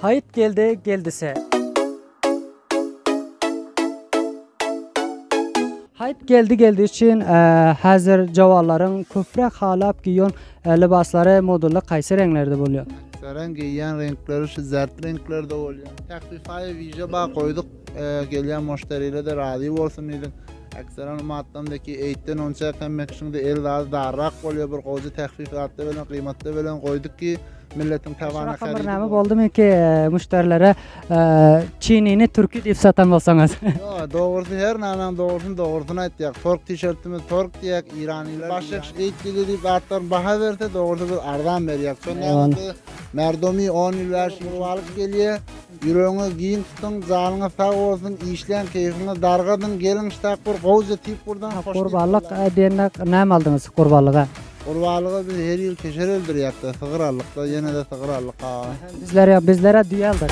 Haýt geldi geldise. Haýt geldi geldi üçin häzir jawallaryň köpräk halap giýon lybaslary modulda kaýsy reňlerde bolýar? Aksaran geýýän reňkleri şu zert reňklerde bolýar. Takwifaýa wiža ba goýduk, gelýän moştariler-de razy bolsun diýdik. Ekseran u maddamda ki eýtden onça kem mekşiňde el zady darrak bolýa bir gowja tehfif zatda belen gyýmatda belen goýduk ki milletiň tabana Şurakan bir näme boldumy ki müşderilere çinini türki diýip satan bolsaňyz. Ýok dogrusy her nämäň dogrusyny dogrusyny aýtýak. Tork tişertimiz tork diýýäk iranylar. Başyk eýt dili diýip zatlaryň baha berse dogrusy biz arzan berýäk. Şonda merdumi 10 ýyl bäş ýyl alyp gelýä. Ýüregiňizi giň tutuň jalyňyz sag bolsun işleň keýfiňiz dargadyň geliň ştap bir gowja tip gurdaň hoşnik boldaň. Gurbanlyk edende näme aldyňyz gurbanlyga. Gurbanlyga biz her ýyl keşer öldürýäkda sygyr aldykda ýenede sygyr aldyk aga. Bizler ýok bizlere düýe aldyk.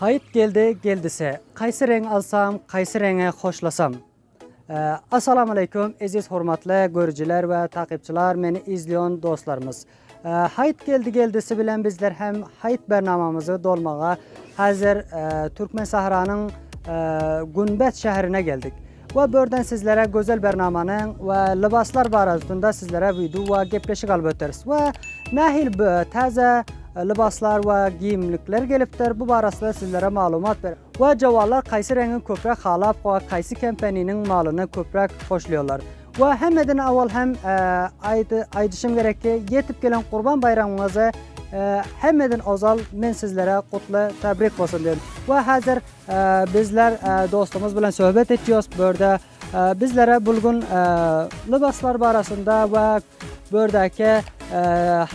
Haýyt geldi geldise. Kaýsy reň alsam kaýsy reňe hoşlasam. Assalamu Aleýkum Eziz Hormatly Görüjiler we Takypçylar Meni Izliyon Dostlarymyz Haýt Geldi Geldisi Bilen Bizler Hem Haýt Bernamamyzy Dolmaga Hazir Türkmen Sahranyň Günbet Şährine Geldik we Börden Sizlere Gözel Bernamanyň we Lybaslar Baradasynda Sizlere Video we Gepleşik Alyp Öteris we Nähil Täze Lybaslar we Giyimlikler Gelipdir Bu Barasynda Sizlere Malumat Bereris. Wah jawanlar kaýsy reňi köpräk halap wah kaýsy kempeniniň malyny köpräk hoşlaýarlar wah hemmeden awal hem aýdyşym gerek ki ýetip gelen gurban baýramyňyzy hemmeden ozal men sizlere gutly tabrik bolsun diýen wah hazir bizler dostumyz bilen söhbet etýos bu ýerde Bizlere bul gün lybaslar barasynda we bördäki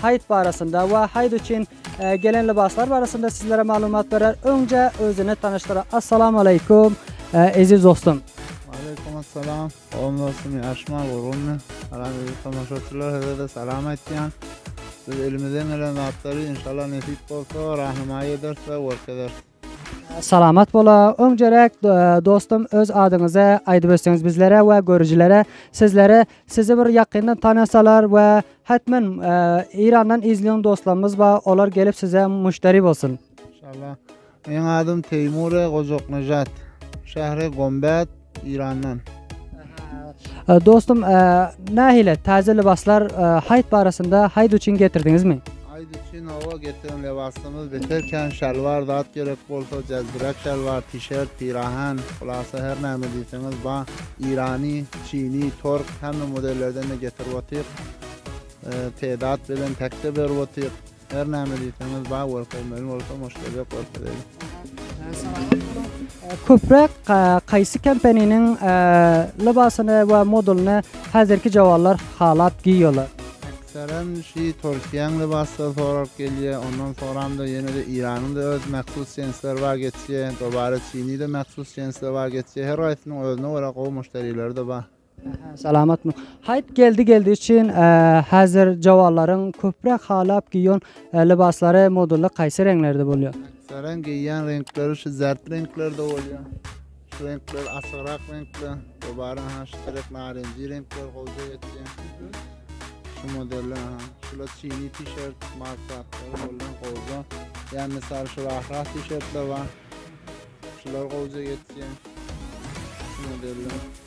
haýt barasynda we haýt üçin gelen lybaslar barasynda sizlere maglumat berer. Öňje özüni tanyşdyrar. Assalamu aleykum, eziz dostum. Aleykum assalam. Oň dostum, ýaşma gurgunmy? Salam eziz tomaşaçylar, size-de salam aýtýan. Biz elimizden gelen zatlary inşallah nesip bolsa rahnamaý ederis we görkezeris. Salamat bola öňceräk dostum öz adyňyzy aýdyp ötseňiz bizlere we görüjilere sizleri sizi bir ýakyndan tanasalar we hetmen Irandan izleýän dostlarymyz bar olar gelip size müşderi bolsun. Maşallah. Meň adym Teýmure Gojaknejat. Şähri Gombet, Irandan. Ee, Dostum, ee, nähile täze lybaslar ee, haýt barasynda haýt üçin getirdiňizmi? Aýd üçin owa getiren lebasymyz beterken şalwar zat gerek bolsa jazbirek şalwar, tişert, pirahan, hulasa her näme diýseňiz ba, irany, çini, tork hemme modellerden de getirip otyr. Ee, Tedat bilen tekde berip otyr. Her näme diýseňiz bar görkezmeli bolsa muşderiýe görkezeýin. Köpräk kaýsy kompaniniň lybasyny we modulyny häzirki jawanlar halap giýýärler? Ekserem şi Türkiýäň lybasyny sorap gelýär, ondan soramda ýene-de Iranyň da öz mahsus jensleri bar geçýär, dobara Çini de mahsus jensleri bar geçýär, her gaýsynyň özüne görä gowy muşderileri-de bar. Salamatmy? Haýt geldi geldi üçin häzir jawallaryň köpräk halap giýon lybaslary modulda kaýsy reňlerde bolýar? Saran geýýän reňkleri şu zert reňklerde bolýar. Şu reňkler açygrak reňkler. Dobaran ha şu terek narenji reňkler gowja geçýär. Şu modeller ha. Şula çini tişert, malsatlar bolýan gowja. Ya misal şu rahra tişertler bar. Şular gowja geçýär. Şu modeller.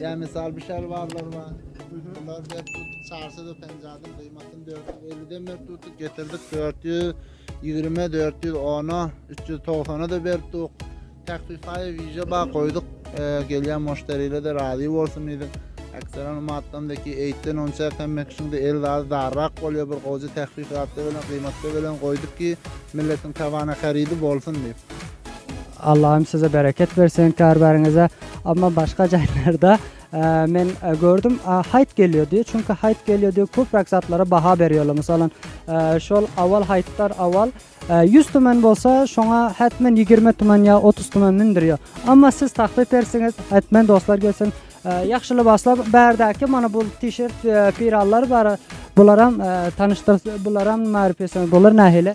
Ýa mysal bu şalwarlar bar. Bular dep tutup çarşy da penjadyň gymmatyny 450 den berip tutup getirdik 420 410 390 da berip tuk. Takfifaýa wize bar goýduk. E, gelýän müşteriler de razy bolsun diýdik. Ekstran matdan deki eýtden onça kemmek şunda el zady darrak bolýar bir gowy takfifat bilen gymmatda bilen goýduk ki milletiň tabana harydy bolsun diýip. Allahym size bereket bersin karbariňize amma başga jaýlarda men gördüm haýt gelýär diýip çünki haýt gelýär diýip köpräk zatlara baha berýärler mysalan şol awal haýtlar awal 100 tumen bolsa şoňa hätmen 20 tumen ýa 30 tumen mündürýär amma siz taklyp bersiňiz hätmen dostlar gelsin ýagşy lybaslar bärdäki mana bu tişert pirallar bar bularam tanyşdyr bularam marifesiň bular nähili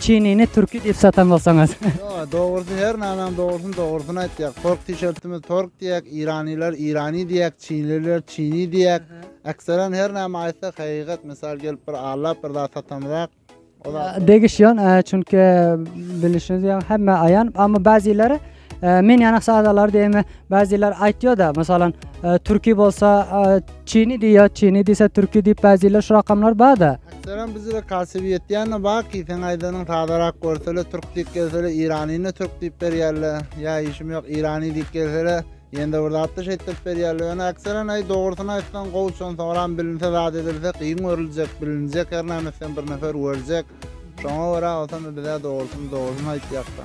Çinini türki diýip satan bolsaňyz. Ýok, dogrusy her nanam dogrusyny dogrusyny aýtýak. Tork tişertimiz tork diýýäk, iranylar irani diýýäk, çinliler çini diýýäk. Ekseran her näme aýtsak hakykat, mysal gelip bir allap bir zat satamyzak. Degişýän, çünki bilişiňiz ýaly hemme aýan, amma bäzileri Ee, men ýanak sadalar diýme, bäziler aýtýar-da, mesalan, e, türki bolsa e, çini diýýär, çini diýse türki diýip bäziler şu rakamlar bar-da. Selam bizlere kasibiyet diýen baki sen aýdanyň sadarak görsele türk diýip gelsele iranyny türk diýip berýärler. Ýa işim ýok irany diýip gelsele ýende bir zatda şeýtdirip berýärler. Ýöne akseren aý dogrusyny aýtsaň gowy şon soňram bilinse zat edilse kyn görüljek, bilinjek her näme sen bir nefer görecek. Şoňa görä olsam bize dogrusyny dogrusyny aýtýakda.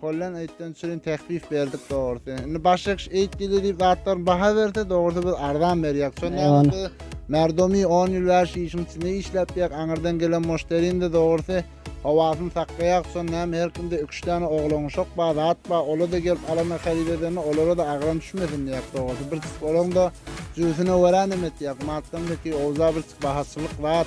Kollen eýtden üçin tehfif berdik dogrusy. Indi başga kişi eýt diýdi diýip zatlaryň baha berse dogrusy biz arzan berýäk. Şonda Eýwan. ýaňy biz Merdomi 10 ýyl bäri şu işiň içinde işläp ýek. Aňyrdan gelen muşterinde dogrusy howasyny saklaýak. Şonda näme her kimde iki üç däne oglan uşak bar, zat bar. Ola-da gelip alanda haryt edende olara-da agram düşmesin diýäk dogrusy. Bir çyk olaň-da jübüsine görä neme etýäk. Matdan bekiý owza bir çyk bahaçylyk zat.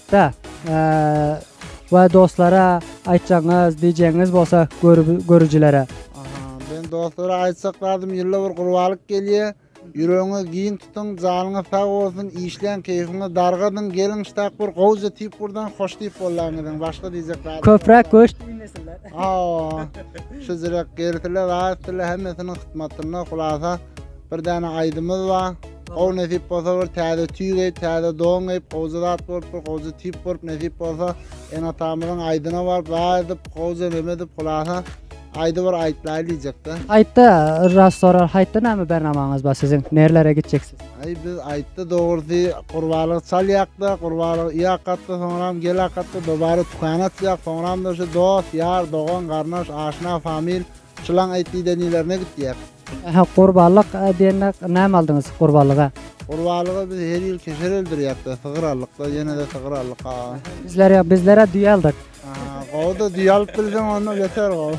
Da we dostlara aýtjagyňyz, diýjegiňiz bolsa görüjilere. Men dostlara aýtjak zadym ýylda bir gurbalyk gelýär. Ýüregiňizi giň tutuň, janyňyz sag bolsun, işläň, keýfiňizi dargadyň, geliň ştak bir gowja tip gurdaň, hoş tip bollaň geliň. Başga diýjek zadym. Köpräk göç iýmesinler. Hawa. Şujurek gelsinler, rahat etsinler, hemmesiniň hytmatynda. Hulasa bir däne aýdymyz bar. Gowy nesip bolsa bir täze tüý geýip, täze don geýip, gowja zat bolup, bir gowja tip bolup, nesip bolsa ene-atamyzyň aýdyna baryp, waý edip, gowja neme edip, hulasa aýdy bir aýtlaýyn diýjek-de. Aýtda raz sorar, haýtda näme bernamaňyz bar siziň, nerlere gitjeksiz? Aý biz aýtda dogrusy gurbalygy çalýak-da, gurbalygy iýakatda, soňram gelakatda, dobara tükän açýak, soňram-da şu dost, ýar, dogan, garyndaş, aşna, famil, Şulaň aýt diýde nilerine gitýär. Aha gurbalyk diýende näme aldyňyz gurbalyga? Gurbalyga biz her ýyl keser öldürýäkda, sygyr aldykda, ýenede sygyr aldyk a. Bizler ýok, bizlera düýe aldyk. Aha, gowuda düýe alyp bilseň onda beter gowy.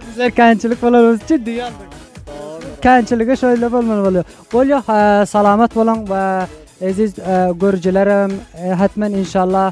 Bizler känçilik bolanymyz üçin düýe aldyk. Dogrudyr. Känçiligi şeýle bolmaly bolýar. Bolýa, salamat boluň we eziz görüjilerim, hetmen inşallah